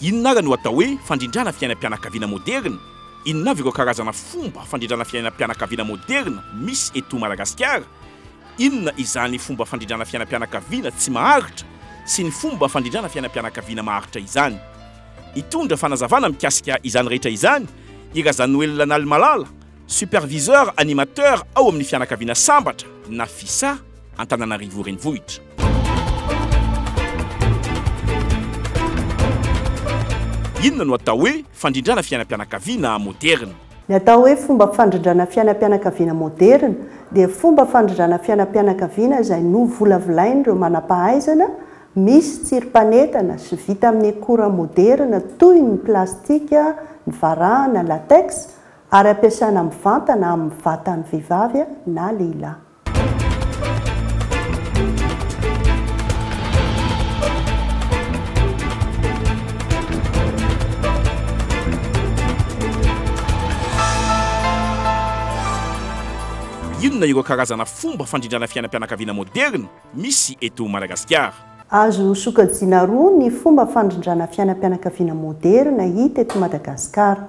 Inona àry no atao hoe fandrindrana fiainam-pianakaviana môderina? Inona avy ireo karazana fomba fandrindrana fiainam-pianakaviana môderina misy eto Madagasikara? Inona izany fomba fandrindrana fiainam-pianakaviana tsy maharitra sy ny fomba fandrindrana fiainam-pianakaviana maharitra izany? Hitondra fanazavana mikasika izany rehetra izany i Razanoelina Nalimalala, Superviseur animateur ao amin'ny fianakaviana Sambatra na Fisa, Antananarivo Renivohitra. Inona no atao hoe fandrindrana fiainam-pianakaviana moderina? Ny atao hoe fomba fandrindrana fiainam-pianakaviana moderina dia fomba fandrindrana fiainam-pianakaviana izay novolavolain'ireo manam-pahaizana misy tsirim-panetana sy vita amin'ny akora moderina toy ny plastika, ny varahana, latex, Ary ampiasana mivantana amin'ny vatan'ny vehivavy na lehilahy. Inona ireo karazana fomba fandrindrana fiainam-pianakaviana moderina misy eto Madagasikara? Azo sokajiana roa ny fomba fandrindrana fiainam-pianakaviana moderina hita eto Madagasikara.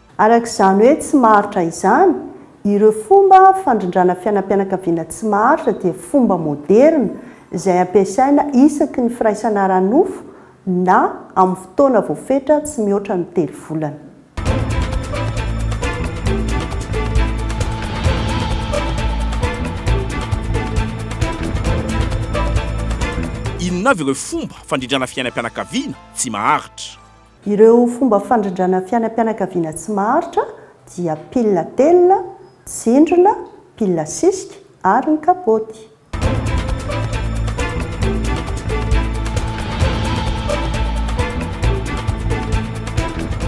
Araka izany hoe tsy maharitra izany, ireo fomba fandrindrana fiainam-pianakaviana tsy maharitra dia fomba moderina izay ampiasaina isaky ny firaisana ara-nofo na amin'ny fotoana voafetra tsy mihoatra ny telo volana. Inona avy ireo fomba fandrindrana fiainam-pianakaviana tsy maharitra? Ireo fomba fandrindrana fiainam-pianakaviana tsy maharitra dia pile à tel, tsindrona, pile à cisc ary ny kapaoty.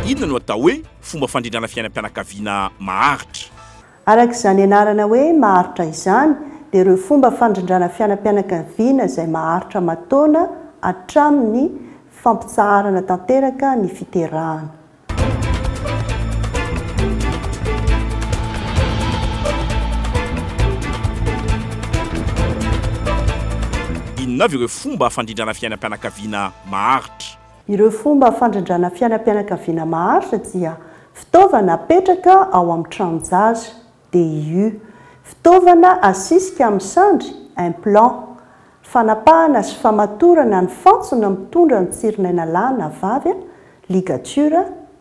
Inona no atao hoe fomba fandrindrana fiainam-pianakaviana maharitra? Araka izany anarana hoe maharitra izany dia ireo fomba fandrindrana fianam-pianakaviana izay maharitra aman-taona hatramin'ny fampitsaharana tanteraka ny fiterahana. Inona avy ireo fomba fandrindrana fiainam-pianakaviana maharitra? Ireo fomba fandrindrana fiainam-pianakaviana maharitra dia fitaovana apetraka ao amin'ny tranon-jaza, DIU, fitaovana asisika amin'ny sandry, implant, fanapahana sy famatorana ny fantsona mitondra ny tsirinaina lahy na vavy, ligature,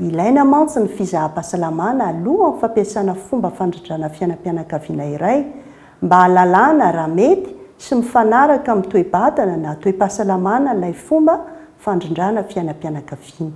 Ilaina mantsy ny fizaham-pahasalamana alohan'ny fampiasana fomba fandradrana fiainam-pianakaviana iray, mba hahalalana raha mety sy mifanaraka amin'ny toe-batana na toe-pahasalamana ilay fomba fandrindrana fiainam-pianakaviana.